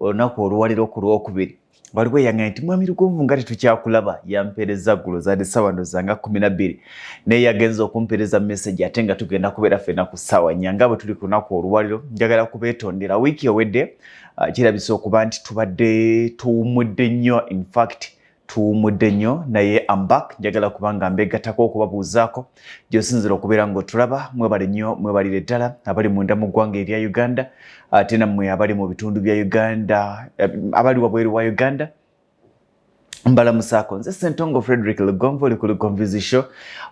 olunaku oluwaliro ku lwokubiri waliwo eyaŋŋamba nti mwami lugonvu nga tetukyakulaba yampeereza ggulo zaali ssaawa ndo zanga kumi na bbiri naye yagenza okumpeereza mesegi ate nga tugenda kubeera ffena ku ssaawa nnya nga bwe tuli ku lunaku oluwaliro njagala kubeetondera wiiki ewedde ah, kirabisa okuba nti tubadde tuwummudde nnyo infact tuwumudde nnyo naye ambak njagala kubanga mbegatako okubabuuzaako gyosinzira okubeera ngaotulaba mwebale nnyo mwebalire ddala abali munda mu ggwanga erya uganda ate nammwe abali mu bitundu bya uganda eh, abali wabweru wa uganda mbala musako nze sentongo frederick lugonvu oli ku lugonvuzi show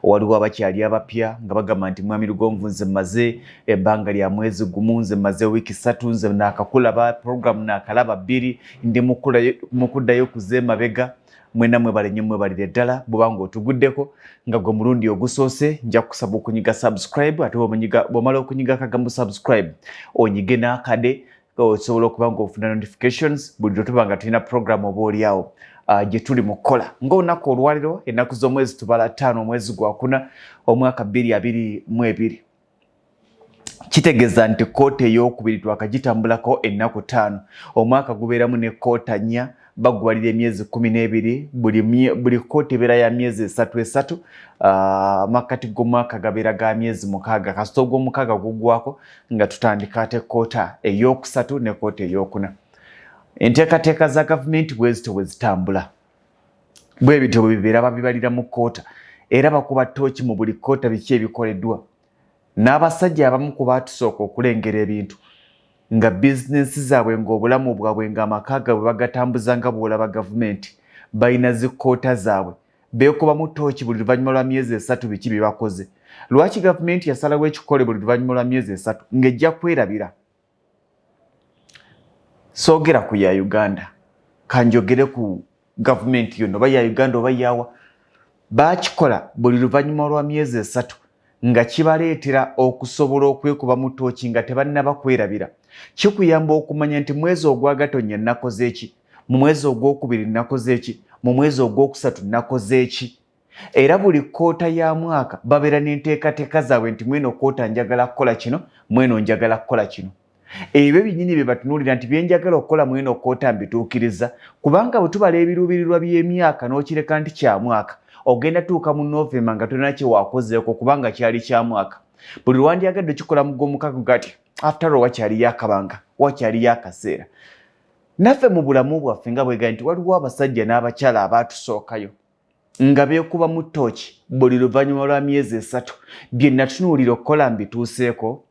waliwo abakyali abapya nga bagamba nti mwami lugonvu nze maze ebbanga lya mwezi gumu nze maze wiiki satu nze nakakulaba programu nakalaba bbiri ndi mukuddayo kuze mabega mwena mwebale nyo mwebalire ddala bwobanga otuguddeko nga gwe mulundi ogusoose nja kusaba okunyiga subscribe ate bwomala okunyiga akagambo subscribe onyige n'akade osobola okuba nga ofuna notifications buli lwetuba nga tulina program oba oliawo ah, gyetuli mu kukola ngaolunaku olwaliro ennaku z'omwezi tubala ttaano omwezi gwakuna omwaka bbiri abiri mu ebiri kitegeeza nti kkooti ey'okubiri twakagitambulako ennaku ttaano omwaka gubeeramu ne kkoota nnya baggwalira emyezi kumi n'ebiri buli kkooti ebeera ya myezi esatu esatu ah, amakkati g'omwaka gabeera ga myezi mukaaga kasita ogw'omukaaga guggwako nga tutandika ate kkoota ey'okusatu ne kkooti ey'okuna enteekateeka za gavumenti bwezito bwe zitambula bwe bityo bwe bibeera babibalira mu kkoota era bakuba ttooki mu buli kkoota biki ebikoleddwa n'abasajja abamu ku baatusooka okulengera ebintu nga bizinensi zaabwe ng'obulamu bwabwe ng'amaka gaabwe bagatambuza nga bw'olaba gavumenti balina zi kkoota zaabwe beekubamu ttooki buli luvannyuma lwa myezi esatu biki bye bakoze lwaki gavumenti yasalawo ekikole buli luvannyuma lwa myezi esatu ng'ejja kwerabira soogera ku ya uganda kanjogere ku gavumenti yona oba ya uganda oba yawa bakikola buli luvannyuma lwa myezi esatu nga kibaleetera okusobola okwekuba mu tooki nga tebannaba kwerabira kikuyamba okumanya nti mwezi ogwagatonnya nnakoze eki mu mwezi ogwokubiri nnakoze eki mu mwezi ogwokusatu nnakoze eki era buli kkoota ya mwaka babeera n'enteekateeka zaabwe nti mweno kkoota njagala kukola kino mweno njagala kukola kino ebyo byennyini bye batunuulira nti bye njagala okukola mweno kkoota mbituukiriza kubanga bwe tubala ebiruubirirwa by'emyaka n'okireka nti kya mwaka ogenda tuuka mu novemba nga tolina kye wakozeeko kubanga kyali kya mwaka buli lwandyagadde okikola mu gw'omukago gati after all wakyaliyo akabanga wakyaliyo akaseera naffe mu bulamu bwaffe nga bwega nti waliwo abasajja n'abakyala abaatusookayo nga beekubamu ttooki buli luvannyuma lwa myezi esatu bye natunuulira okukola mbituuseeko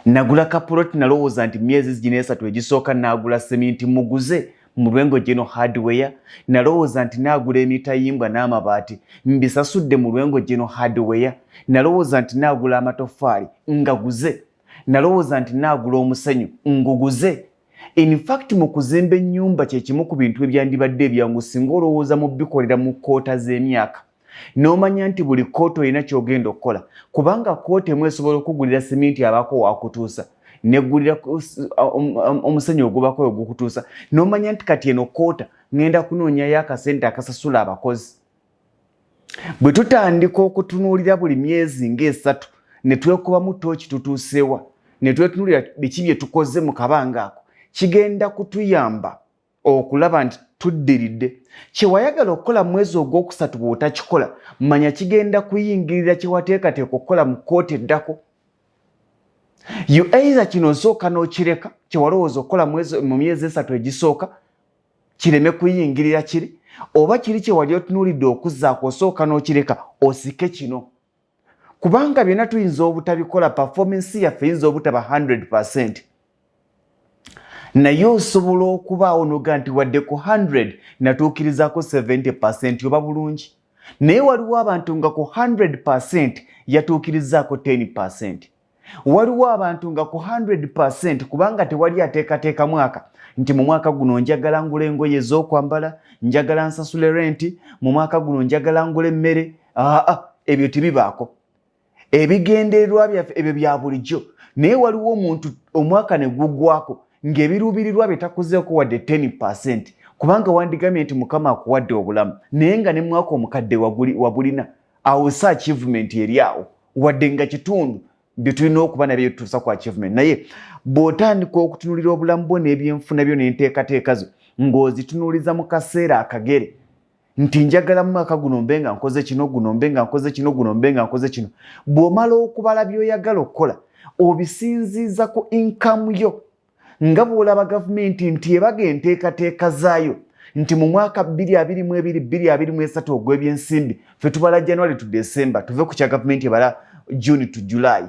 nagula kapuloti nalowooza nti myezi zigina esatu egisooka naagula seminti muguze mu lwengo geno hardware nalowooza nti naagula emitayimbwa n'amabaati mbisasudde mu lwengo geno hardware nalowooza nti naagula amatoffaali ngaguze nalowooza nti naagula omusenyu nguguze In fact mu kuzimba ennyumba kye kimu ku bintu ebyandibadde ebyangu singa olowooza mu bikolera mu kkoota z'emyaka n'omanya nti buli kkooti olina ky'ogenda okukola kubanga kkooti emu esobola okugulira siminti abaako waakutuusa neggulira um, um, omusenyu ogubako oyo gukutuusa n'omanya nti kati eno kkoota ŋŋenda kunoonyayo akasente akasasula abakozi Bwe tutandika okutunuulira buli myezi ng'esatu ne twekubamu tooki tutuusewa ne twetunuulira biki bye tukoze mu kabanga ako kigenda kutuyamba okulaba nti tuddiridde kye wayagala okukola mu mwezi ogwokusatu bw'otakikola manya kigenda kuyingirira kye wateekateeka okukola mu kkooti eddako you either kino osooka n'okireka kye walowooza okukola mu myezi esatu egisooka kireme kuyingirira kiri oba kiri kyewali otunulidde okuzaako osooka n'okireka osike kino kubanga byonna tuyinza obutabikola performansi yaffe yinza obutaba 100 percent naye osobola okubaawo noga nti wadde ku 100 natuukirizako 70 percent oba bulungi naye waliwo abantu nga ku 100 percent yatuukirizaako 10 percent waliwo abantu nga ku 100 kubanga tewali ateekateeka mwaka nti mu mwaka guno njagala ngula engoye ez'okwambala njagala nsasule renti mu mwaka guno njagala ngula emmere aa ebyo tebibaako ebigendererwa byaffe ebyo bya bulijjo naye waliwo omuntu omwaka ne gugwako ng'ebiruubirirwa bye takuzeeko wadde 10 kubanga wandigamye nti mukama akuwadde obulamu naye nga ne mwaka omukadde wabulina awo si achievement eri awo wadde nga kitundu byetulina okuba nabyo tutuusa ku achievement naye bw'otandika okutunulira obulamu bwo n'ebyenfuna byo n'enteekateeka zo ng'ozitunuliza mu kaseera akagere nti njagala mu mwaka guno mbe nga nkoze kino guno mbe nga nkoze kino guno mbe nga nkoze kino bw'omala okubala by'oyagala okukola obisinziiza ku inkamu yo nga bw'olaba gavumenti nti ebaga enteekateeka zaayo nti mu mwaka 222223 ogw'ebyensimbi fe tubala january to december tuve ku kya gavumenti ebala june to july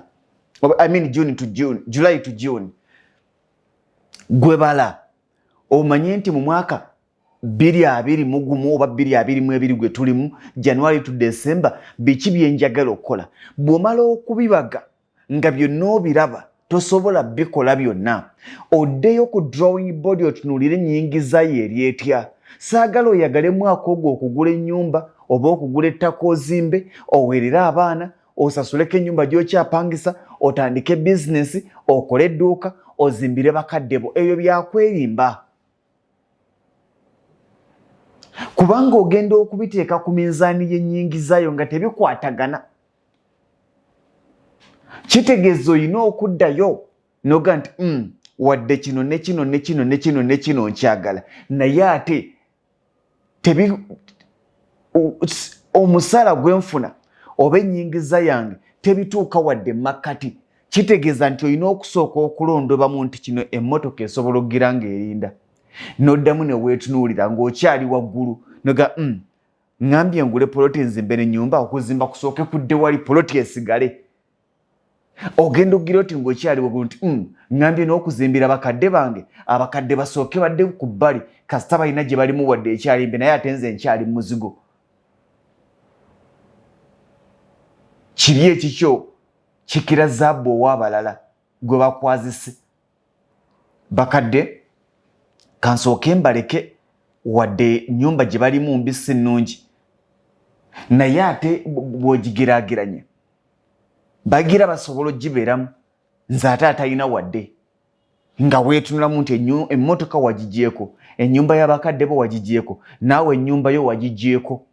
I mean june to june july to june gwebala omanye nti mu mwaka biri abiri mugumu oba biri abiri mu ebiri gwe tulimu january to december biki byenjagala okukola bw'omala okubibaga nga byonna obiraba tosobola bikola byonna oddeyo ku drawing body otunuulire ennyingiza ye eri etya saagala oyagale mwaka ogwo okugula ennyumba oba okugula ettaka ozimbe oweerere abaana osasuleko ennyumba gy'okyapangisa otandike bizinesi okole edduuka ozimbire bakadde bo ebyo byakwerimba kubanga ogenda okubiteeka ku minzaani y'ennyingizayo nga tebikwatagana kitegeeza olina okuddayo noga nti mm, wadde kino ne kino ne kino ne kino ne kino nkyagala naye ate tebi omusaala gwe nfuna oba ennyingiza yange tebituuka wadde makkati kitegeeza nti olina okusooka okulondobamu nti kino emmotoka esobola okugira ng'erinda noddamu ne weetunuulira ng'okyali waggulu noga mm, ŋambye ngule poloti nzimbe ne nyumba okuzimba kusooke kudde wali poloti esigale ogenda okugira oti ngaokyaliwogulu nti mm, ŋambye n'okuzimbira bakadde bange abakadde basooke badde ku bbali kasita balina gye balimu wadde ekyalimbe naye ate nze nkyali mu muzigo kibi ekikyo kikira zaabu ow'abalala gwe bakwazise bakadde kansooke mbaleke wadde nyumba gye balimu mbi si nnungi naye ate bwogigerageranya bagira basobola ogibeeramu nze ate atalina wadde nga weetunulamu nti emmotoka wagigyeko ennyumba y'abakadde bo wagigyeko naawe ennyumba yo wagigyeko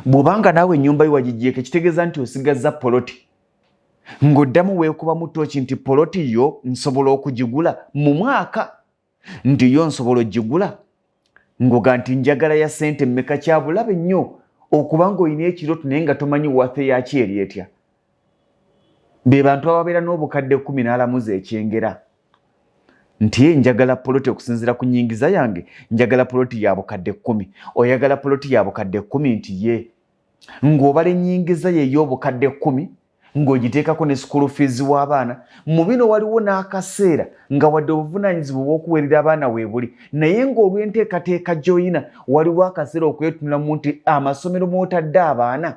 bw'obanga naawe ennyumba yo wagijjeeko ekitegeeza nti osigazza poloti ng'oddamu weekubamu tooki nti poloti yo nsobola okugigula mu mwaka nti yo nsobola okugigula ng'oga nti njagala ya ssente mmeka kyabulabe nnyo okuba ng'olina ekiroto naye nga tomanyi wathe yakyo eri etya be bantu ababeera n'obukadde kumi n'alamuza ekyengera nti ye njagala poloti okusinzira ku nyingiza yange njagala poloti ya bukadde kumi oyagala poloti ya bukadde kumi nti ye ng'obala enyingiza ye ey'obukadde kumi ng'ogiteekako ne sukulu fiizi w'abaana mu bino waliwo n'akaseera nga wadde obuvunaanyizibwa obw'okuweerera abaana weebuli naye ng'olw'enteekateeka gy'oyina waliwo akaseera okwetunulamu nti amasomero mw'otadde abaana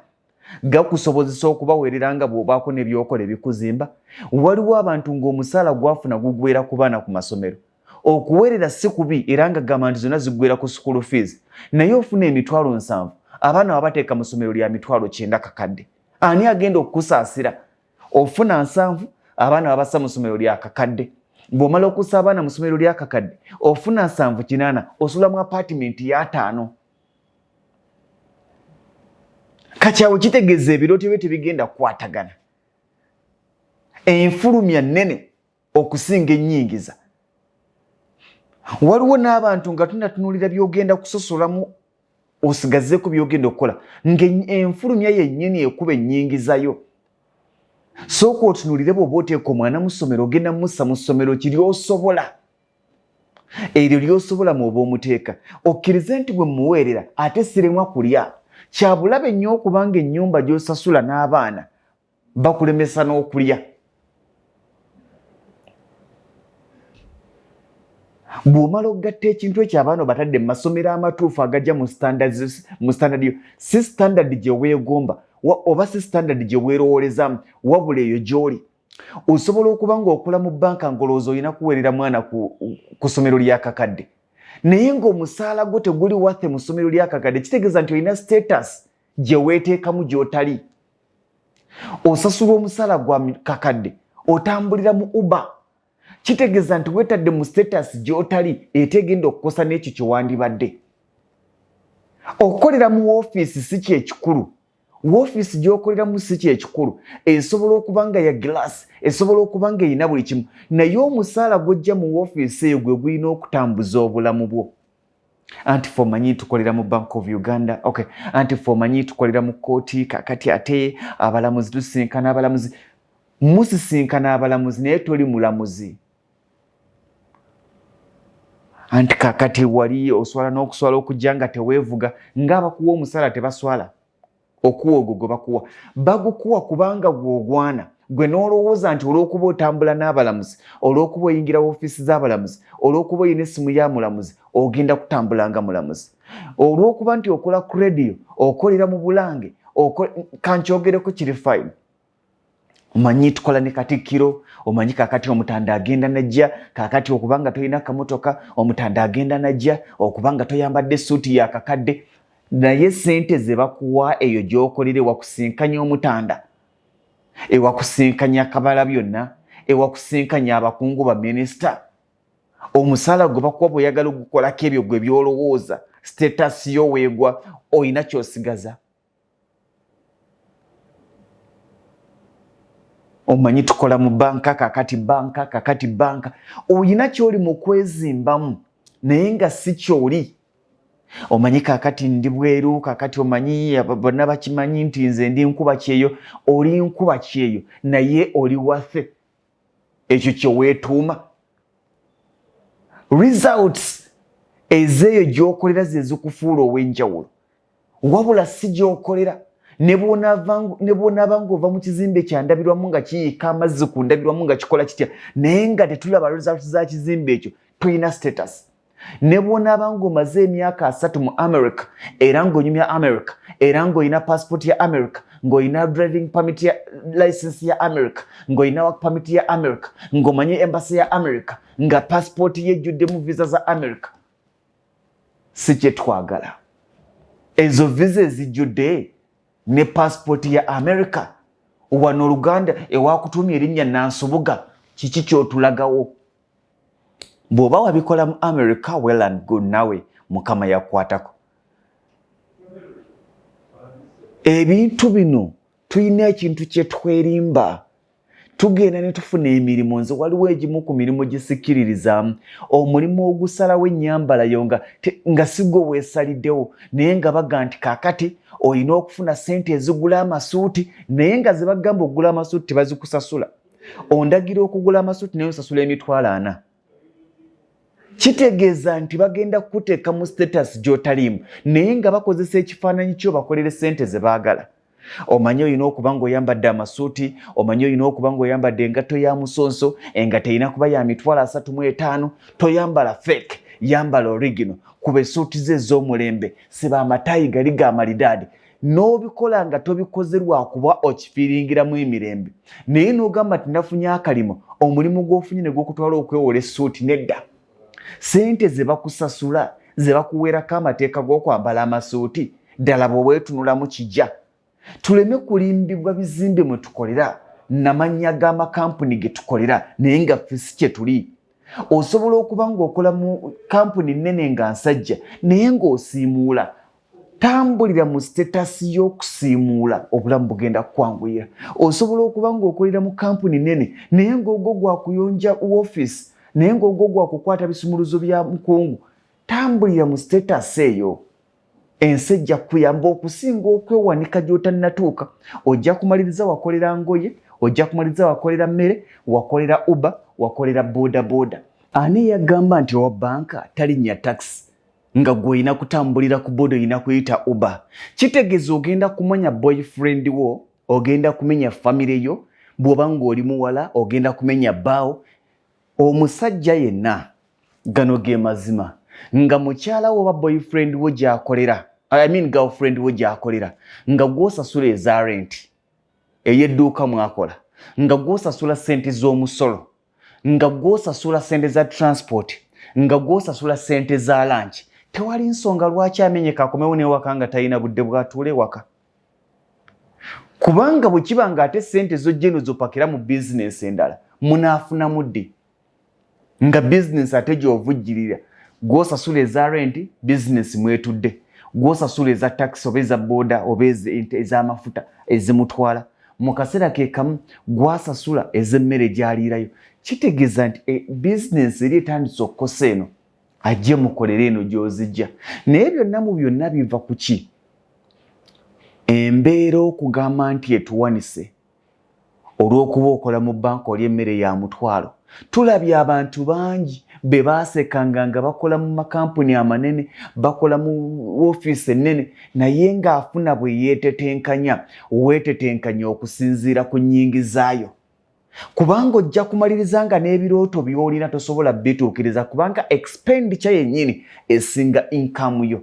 gakusobozesa okubaweerera nga bw'obaako n'ebyokola ebikuzimba waliwo abantu ng'omusaala gwafuna gugwera ku baana ku masomero okuweerera si kubi era nga gamba nti zonna ziggwera ku sukulu fees naye ofuna emitwalo nsanvu abaana wabateeka mu ssomero lya mitwalo kyenda kakadde ani agenda okukusaasira ofuna nsanvu abaana babassa mu ssomero lya kakadde bw'omala okussa abaana mu ssomero lya kakadde ofuna nsanvu kinaana osula mu apaatimenti y'ataano kati awo kitegeeza ebirooto bye tebigenda kukwatagana enfulumya nnene okusinga ennyingiza waliwo n'abantu nga tunatunuulira byogenda kusosolamu osigazeeko byogenda okukola ngaenfulumya yennyini ekuba ennyingizayo sooka otunuulire bwoba oteeka omwana mu ssomero ogenda mussa mu ssomero kiri osobola eryo lyosobola mu oba omuteeka okkirize nti bwe muweerera ate siremwa kulya kyabulabe nnyo okubanga ennyumba gy'osasula n'abaana bakulemesa n'okulya bw'omala okugatta ekintu ekyo abaana obatadde mu masomero amatuufu agajja mu standard yo si standard gye weegomba oba si standard gye weerowoolezamu wabula eyo gy'oli osobola okuba ng'okola mu bbanka ngolowooza olina kuweerera mwana ku ssomero lyakakadde naye ng'omusaala gwo teguli wathe mu ssomero lyakakadde kitegeeza nti olina status gye weeteekamu gy'otali osasulwa omusaala gwa kakadde otambulira mu uba kitegeeza nti weetadde mu status gy'otali etegenda okukosa n'ekyo kye wandibadde okukolera mu woofiisi si kyekikulu woofiisi gy'okoleramu si kyekikulu esobola okuba nga ya gilaasi esobola okuba nga erina buli kimu naye omusaala gwojja mu woofiisi eyo gwe gulina okutambuza obulamu bwo anti fe omanyi tukolera mu bank of uganda okay anti fe omanyi tukolera mu kkooti kakati ate abalamuzi tusisinkana abalamuzi musisinkana abalamuzi naye toli mulamuzi anti kakati wali oswala n'okuswala okujja nga teweevuga ngaabakuwa omusala tebaswala okuwa ogwo gwe bakuwa bagukuwa kubanga gwogwana gwe n'olowooza nti olw'okuba otambula n'abalamuzi olw'okuba oyingira woofiisi z'abalamuzi olw'okuba olina essimu ya mulamuzi ogenda kutambula nga mulamuzi olw'okuba nti okola ku rediyo okolera mu bulange kankyogereko kiri fayini omanyi tukola ne katikkiro omanyi kakati omutanda agenda najja kakati okubanga tolina kamotoka omutanda agenda najja okubanga toyambadde esuuti yakakadde naye sente zebakuwa eyo gyokolera ewakusinkanya omutanda ewakusinkanya kabala byonna ewakusinkanya abakungu baminisita omusala gwe bakuwa bweoyagala ogukolako ebyo gwe byolowooza status yo weegwa olina kyosigaza omanyi tukola mu banka kakati banka kakati banka olina kyoli mu kwezimbamu naye nga si kyoli omanyi kakati ndi bweru kakati omanyi bonna bakimanyi nti nze ndi nkuba kyeyo oli nkuba kyeyo naye oli wathe ekyo kyeweetuuma results ezeeyo gyokolera ze zikufuula ow'enjawulo wabula si gyokolera ne bwonaaba ngaova mu kizimbe kyandabirwamu nga kiyiika amazzi ku ndabirwamu nga kikola kitya naye nga tetulaba results za kizimbe ekyo tulina status ne bwonaaba ng'omaze emyaka asatu mu america era ng'onyumya america era ng'olina paasipooti ya america ng'olina driving permit ya license ya america ng'olina work permit ya america ng'omanyi embasi ya america nga paasipooti yejjuddemu visa za america si kyetwagala ezo visa ezijjudde ne paasipooti ya america wano oluganda ewakutuumya erinnya nansubuga kiki kyotulagawo bwoba wabikola mu america well and good nawe mukama yakukwatako ebintu bino tulina ekintu kyetwerimba tugenda ne tufuna emirimu nze waliwo egimu ku mirimu gisikiririzaamu omulimu ogusalawo ennyambala yo nga, nga sigwe weesaliddewo naye nga baga nti kakati olina okufuna sente ezigula amasuuti naye nga zebagamba okugula amasuuti tebazikusasula ondagira okugula amasuuti naye nsasula emitwalo ana kitegeeza nti bagenda kukuteeka mu status gy'otaliimu naye nga bakozesa ekifaananyi kyo bakolere sente ze baagala omanyi olina okuba ngaoyambadde amasuuti omanyi olina okuba ngaoyambadde engatto ya musonso engatto erina kuba ya mitwalo asatu mu etaano toyambala fake yambala origino kuba esuuti ze ez'omulembe siba amatayi gali ga malidaadi n'obikola nga tobikoze lwakuba okifiiringiramu emirembe naye n'ogamba nti nafunye akalimo omulimu gw'ofunye ne gwokutwala okwewola essuuti nedda sente ze bakusasula ze bakuweerako amateeka g'okwambala amasuuti ddala bwe weetunulamu kijja tuleme kulimbibwa bizimbe mwe tukolera namannya g'amakampuni ge tukolera naye nga ffe si kye tuli osobola okuba ng'okola mu kampuni nnene nga nsajja naye ng'osiimuula tambulira mu sitetasi y'okusiimuula obulamu bugenda kukwanguyira osobola okuba ng'okolera mu kampuni nene naye ng'ogwo gwa kuyonja wofiisi naye ng'ogwo gwa kukwata bisumuluzo bya mukungu tambulira mu sitetasi eyo ensi ejja kukuyamba okusinga okwewanika gy'otannatuuka ojja kumaliriza wakolera ngoye ojja kumaliriza wakolera mmere wakolera uba wakolera bodaboda ani eyagamba nti owa banka talinnya takisi nga gwe olina kutambulira ku boda olina kuyita uba kitegeza ogenda kumanya boyfriend wo ogenda kumenya famire yo bwoba ngaoli muwala ogenda kumenya baawo omusajja yenna gano ge mazima nga mukyala wo oba boyfriend wo gyakolera I mean girlfriend wo gyakolera nga gwosasula eza renti eyedduuka mwakola nga gwosasula sente z'omusolo nga gwosasula sente za transport nga gwosasula sente za lanki tewali nsonga lwaki amenyeka akomewo newaka nga talina budde bwatuula ewaka kubanga bwe kiba nga ate sente zojjeno zopakira mu bizinensi endala munaafunamu ddi nga bizinensi ate gyovujjirira gwosasula eza renti bizinensi mwetudde gwosasula eza takisi oba eza booda oba ez'amafuta ezimutwala mu kaseera ke kamu gwasasula ez'emmere gy'aliirayo kitegeeza nti e, bizinensi eri etandise okukosa eno ajje mukolera eno gy'ozijja naye byonna mu byonna biva ku ki embeera okugamba nti etuwanise olw'okuba okola mu banka oli emmere ya mutwalo tulabye abantu bangi be baasekanga nga bakola mu makampuni amanene bakola mu ofiisi ennene naye ng'afuna bwe yeetetenkanya weetetenkanya okusinziira ku nnyingizaayo kubanga ojja kumaliriza nga n'ebirooto by'olina tosobola bituukiriza kubanga expenditure yennyini esinga inkamu yo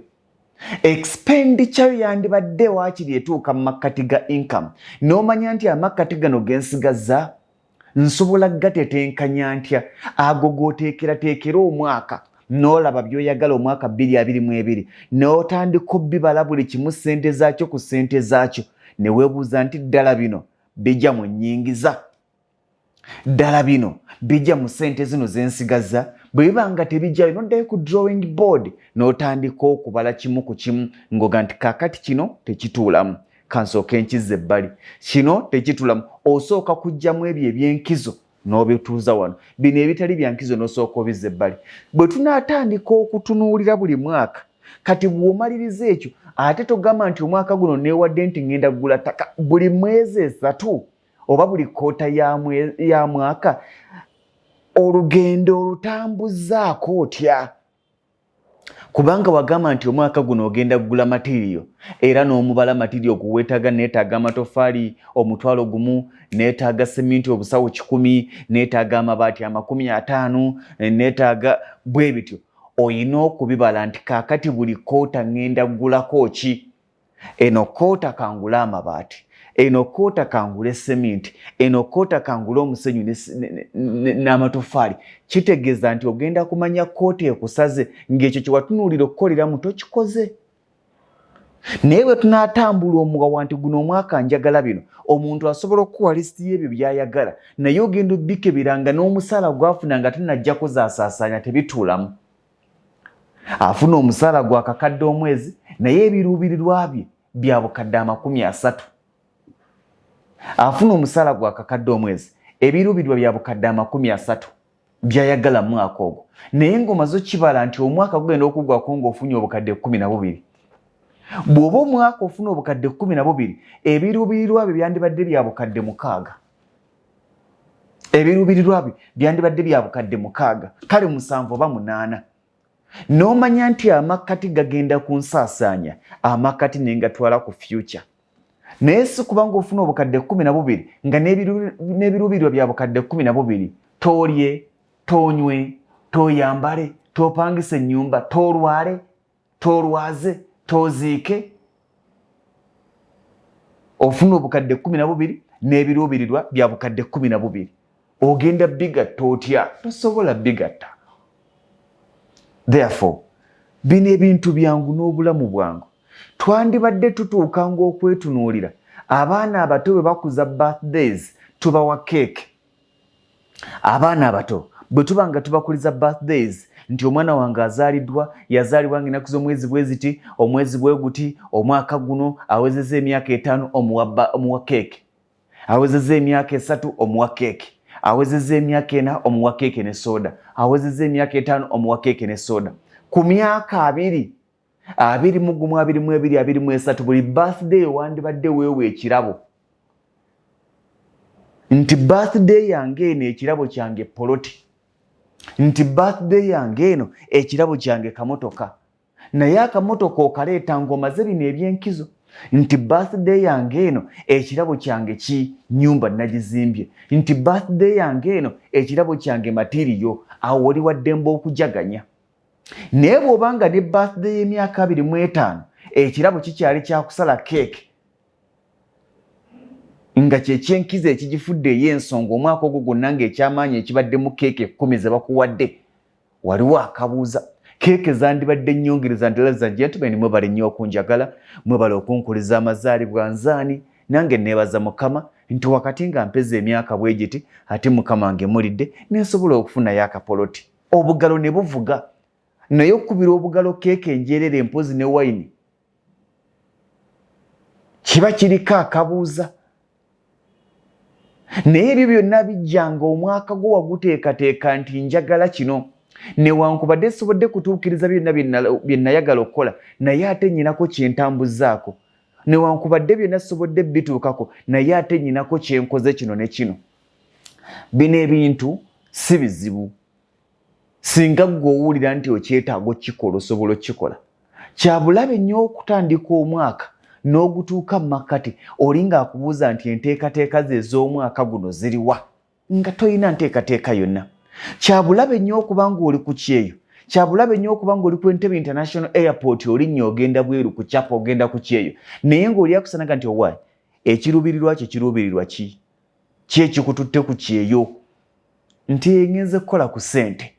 expenditure yo yandibadde waakiri etuuka mu makkati ga inkamu n'omanya nti amakkati gano gensigazza nsobola gatetenkanya ntya ago goteekerateekera omwaka n'olaba by'oyagala omwaka bbiri abiri mu ebiri n'otandika obbibala buli kimu ssente zaakyo ku ssente zaakyo ne weebuuza nti ddala bino bijja mu nnyingiza ddala bino bijja mu ssente zino ze nsigazza bwe biba nga tebijjayo noddayo ku drawing board n'otandika okubala kimu ku kimu ng'oga nti kaakati kino tekituulamu kansooka enkizza ebbali kino tekitulamu osooka kujjamu ebyo ebyenkizo n'obituuza wano bino ebitali byankizo n'osooka obizza ebbali bwe tunaatandika okutunuulira buli mwaka kati bw'omaliriza ekyo ate togamba nti omwaka guno neewadde nti ŋŋenda kugula ttaka buli mwezi esatu oba buli kkoota ya mwaka olugendo olutambuzaako otya kubanga wagamba nti omwaka guno ogenda kugula matiriyo era n'omubala matiriyo guwetaaga neetaaga amatoffaali omutwalo gumu neetaaga seminti obusawo kikumi neetaaga amabaati amakumi ataano neetaaga bwe bityo olina okubibala nti kaakati buli koota ŋŋenda kugulako ki eno koota kangule amabaati eno koota kangule seminti eno koota kangule omusenyu n'amatoffaali kitegeeza nti ogenda kumanya koota ekusaze ng'ekyo kyewatunuulira okukoleramu tokikoze naye bwe tunaatambula omuwawa nti guno omwaka njagala bino omuntu asobola okukuwa lisiti y'ebyo by'ayagala naye ogenda obbikebera nga n'omusaala gwafuna nga tanajjako zaasaasaanya tebituulamu afuna omusaala gwa kakadde omwezi naye ebiruubirirwa bye bya bukadde amakumi asatu afuna omusaala gwa kakadde omwezi ebiruubirirwa bya bukadde amakumi asatu byayagala mu mwaka ogwo naye ng'omaze okibala nti omwaka gugenda okuggwako ng'ofunye obukadde ekkumi na bubiri bw'oba omwaka ofuna obukadde kkumi na bubiri ebiruubirirwa byo byandibadde bya bukadde mukaaga ebiruubirirwa bye byandibadde bya bukadde mukaaga kale musanvu oba munaana n'omanya nti amakkati gagenda ku nsaasaanya amakkati ne ngatwala ku fyuca naye si kubanga ofuna obukadde kumi na bubiri nga n'ebiruubirirwa bya bukadde kumi na bubiri toolye toonywe tooyambale toopangisa ennyumba toolwale tolwaze toziike ofuna obukadde kumi na bubiri n'ebiruubirirwa bya bukadde kumi na bubiri ogenda bigatta otya tosobola bigatta therefore bino ebintu byangu n'obulamu bwangu twandibadde tutuuka ng'okwetunuulira abaana abato bwe bakuza birthdays tubawa keeke abaana abato bwe tuba nga tubakuliza birthdays nti omwana wange azaaliddwa yazaalibwa nga enaku z'omwezi bwe ziti omwezi bwe guti omwaka guno awezeza emyaka etaano omuwa keeke awezeza emyaka esatu omuwa keeke awezeza emyaka ena omuwa keeke ne sooda awezeza emyaka etaano omuwa keeke ne sooda ku myaka abiri abiri mu gumu abiri mu ebiri abiri mu esatu buli birthday owandibadde weewa ekirabo nti birthday yange eno ekirabo kyange poloti nti birthday yange eno ekirabo kyange kamotoka naye akamotoka okaleeta ng'omaze bino eby'enkizo nti birthday yange eno ekirabo kyange ki nyumba nagizimbye nti birthday yange eno ekirabo kyange matiriyo awo oli waddemba okujaganya naye bw'oba nga ne birthday y'emyaka abiri mu etaano ekirabo kikyali kyakusala keeke nga kyekyenkiza ekigifudde ey'ensonga omwaka ogwo gwonna ng'ekyamaanyi ekibaddemu keeke ekkumi ze bakuwadde waliwo akabuuza keeke zandibadde nnyongereza ndala za gentlemen mwebale nnyo okunjagala mwebale okunkuliza amazaalibwa nzaani nange neebaza mukama nti wakati nga mpeza emyaka bwe giti ate mukama ngemulidde nensobola okufunayo akapoloti obugalo ne buvuga naye okukubira obugalo keeka enjeerera empozi ne wayini kiba kiriko akabuuza naye ebyo byonna bijjanga omwaka gwo waguteekateeka nti njagala kino newankubadde sisobodde kutuukiriza byonna bye nayagala okukola naye ate nyinako kyentambuzaako newankubadde byonna sisobodde bituukako naye ate nyinako kyenkoze kino ne kino bino ebintu si bizibu singa gwe owulira nti okyetaaga okukikola osobola okukikola kyabulabe nnyo okutandika omwaka n'ogutuuka mu makkati oli ng'akubuuza nti enteekateeka ze ez'omwaka guno ziriwa nga tolina nteekateeka yonna kyabulabe nnyo okuba ng'oli ku kyeyo kyabulabe nnyo okuba ng'oli ku entebe international airport olinnya ogenda bweru ku kyapa ogenda ku kyeyo naye ng'oli akusanaga nti owaayi ekiruubirirwa kyo kiruubirirwa ki ki ekikututte ku kyeyo nti engenze kukola ku sente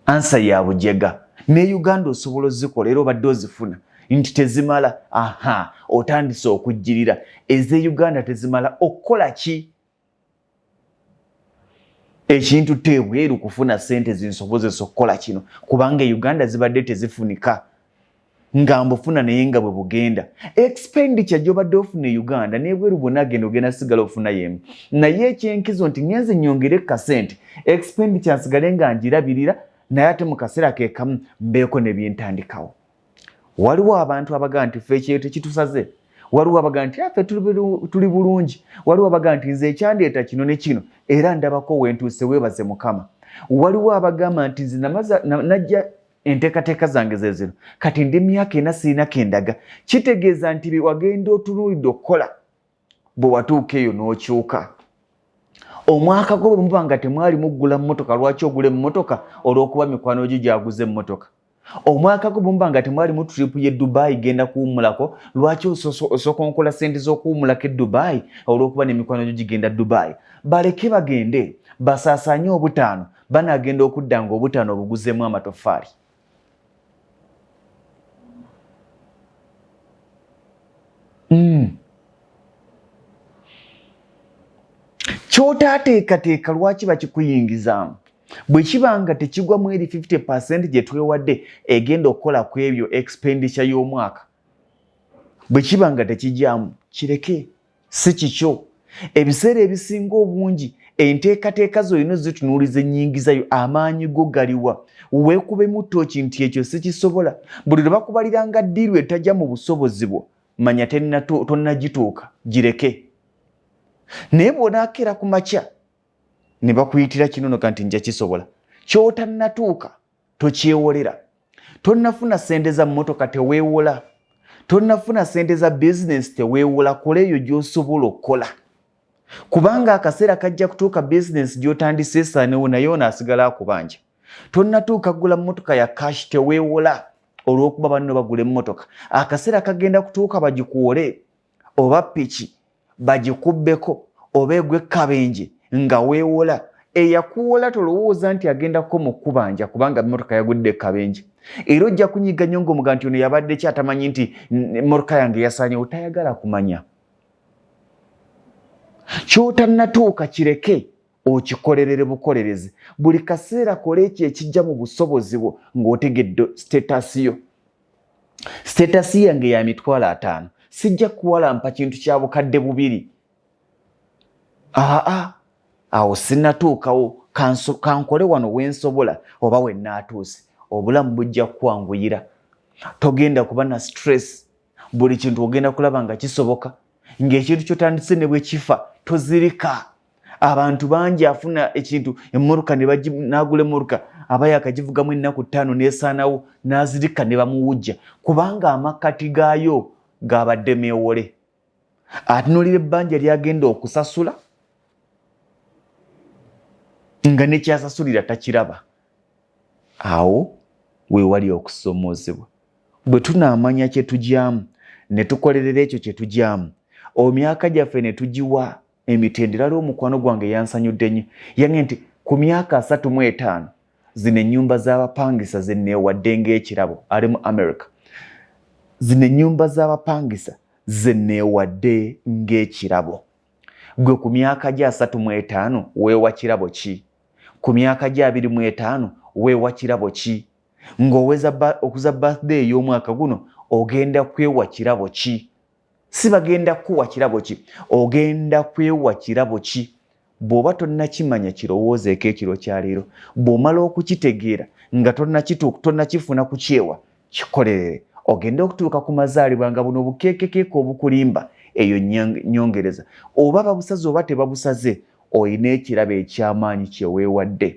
ansa ya bujega ne uganda osobola ozikola era obadde ozifuna nti tezimala aha otandise okujjirira eze uganda tezimala okukola ki ekintu teebweru kufuna sente zinsobozesa okukola kino kubanga e uganda zibadde tezifunika nga mbufuna naye nga bwe bugenda expenditure gyobadde ofuna e uganda nebweru bwona agenda ogenda sigala ofuna yemu naye ekyenkizo nti ngenze nyongere kasente expenditure nsigale nga njirabirira naye ate mu kaseera kekamu mbeeko nebyentandikawo waliwo abantu abaga nti fe ekyeyo tekitusaze waliwo abaga nti afe ah, tuli bulungi waliwo abaga nti nze ekyandeeta kino ne kino era ndabako wentuuse webaze mukama waliwo abagamba nti nze najja enteekateeka zange ze zino kati ndi myaka ena sirina kendaga kitegeeza nti bye wagenda otunuulidde okukola bwe watuuka eyo n'okyuka omwaka gwo bwe muba nga temwali muggula mmotoka lwaki ogula emmotoka olw'okuba mikwano gyo gyaguza emmotoka omwaka gwo bwe muba nga temwali mu tiripu ye dubaayi genda kuwummulako lwaki osokonkola ssente z'okuwummulako e dubaayi olw'okuba n'emikwano gyo gigenda dubaayi baleke bagende basaasaanye obutaano banagenda okudda nga obutano obuguzemu amatofaali mm. kyotaateekateeka lwaki bakikuyingizaamu bwe kiba nga tekigwa mu eri 50 percent gye twewadde egenda okukola ku ebyo expenditure y'omwaka bwe kiba nga tekigyamu kireke si kikyo ebiseera ebisinga obungi enteekateeka zolina ozitunuuliza ennyingizayo amaanyi go galiwa weekubemu tooki nti ekyo sikisobola buli lwe bakubaliranga ddiiru etajja mu busobozi bwo manya tonnagituuka gireke naye bw'onaakeera ku makya ne bakuyitira kinonoka nti nja kisobola ky'otannatuuka tokyewolera tonnafuna sente za mmotoka teweewola tonnafuna sente za bizinensi teweewola kola eyo gy'osobola okukola kubanga akaseera kajja kutuuka bizinensi gy'otandisa esaanewo naye ono asigala akubanja tonnatuuka kugula mmotoka ya kashi teweewola olw'okuba banno bagula emmotoka akaseera kagenda kutuuka bagikuwole oba piki bagikubbeko oba egwekkabenje nga weewola eyakuwola tolowooza nti agenda kuko mu kubanja kubanga motoka yagudde ekkabenje era ojja kunyiga nnyo ngaomuga nti ono yabadde ki atamanyi nti motoka yange yasaanyewo tayagala kumanya kyotannatuuka kireke okikolerere bukolerezi buli kaseera kola ekyo ekijja mu busobozi bwo ng'otegedde sitaasi yo Siteetasi yange ya mitwalo ataano sijja kuwalampa kintu kya bukadde bubiri. Aa awo sinnatuukawo kankole wano we nsobola oba we nnaatuuse obulamu bujja kukwanguyira. Togenda kuba na stress, buli kintu ogenda kulaba nga kisoboka. Ng'ekintu ky'otandise ne bwe kifa tozirika. abantu bangi afuna ekintu emmoruka nagula emmoruka aba yakagivugamu ennaku ttaano nesaanawo nazirika ne bamuwujja kubanga amakkati gaayo gabadde meewole atunulira ebbanja lyagenda okusasula nga nekyasasulira takiraba awo wewali okusomoozebwa bwe tunaamanya kyetugyamu ne tukolerera ekyo kyetugyamu omyaka gyaffe ne tugiwa emitendera lwo mukwano gwange yansanyudde nnyo yange nti ku myaka asatu mu etaano zino ennyumba z'abapangisa zenneewadde ng'ekirabo ali mu america zino ennyumba z'abapangisa zenneewadde ng'ekirabo gwe ku myaka gyo asatu mu etaano weewa kirabo ki ku myaka gyo abiri mu etaano weewa kirabo ki ng'oweza okuza birthday ey'omwaka guno ogenda kwewa kirabo ki si bagenda kukuwa kirabo ki ogenda kwewa kirabo ki bw'oba tonnakimanya kirowoozeeko ekiro kya leero bw'omala okukitegeera nga tonnakifuna ku kyewa kikolerere ogende okutuuka ku mazaalibwa nga buno obukeekekeeka obukulimba eyo nyongereza oba babusaze oba tebabusaze olina ekirabo eky'amaanyi kyeweewadde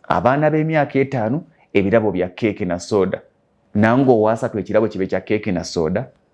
abaana b'emyaka etaano ebirabo bya keeke na sooda nange owaasatu ekirabo kibe kya keeke na sooda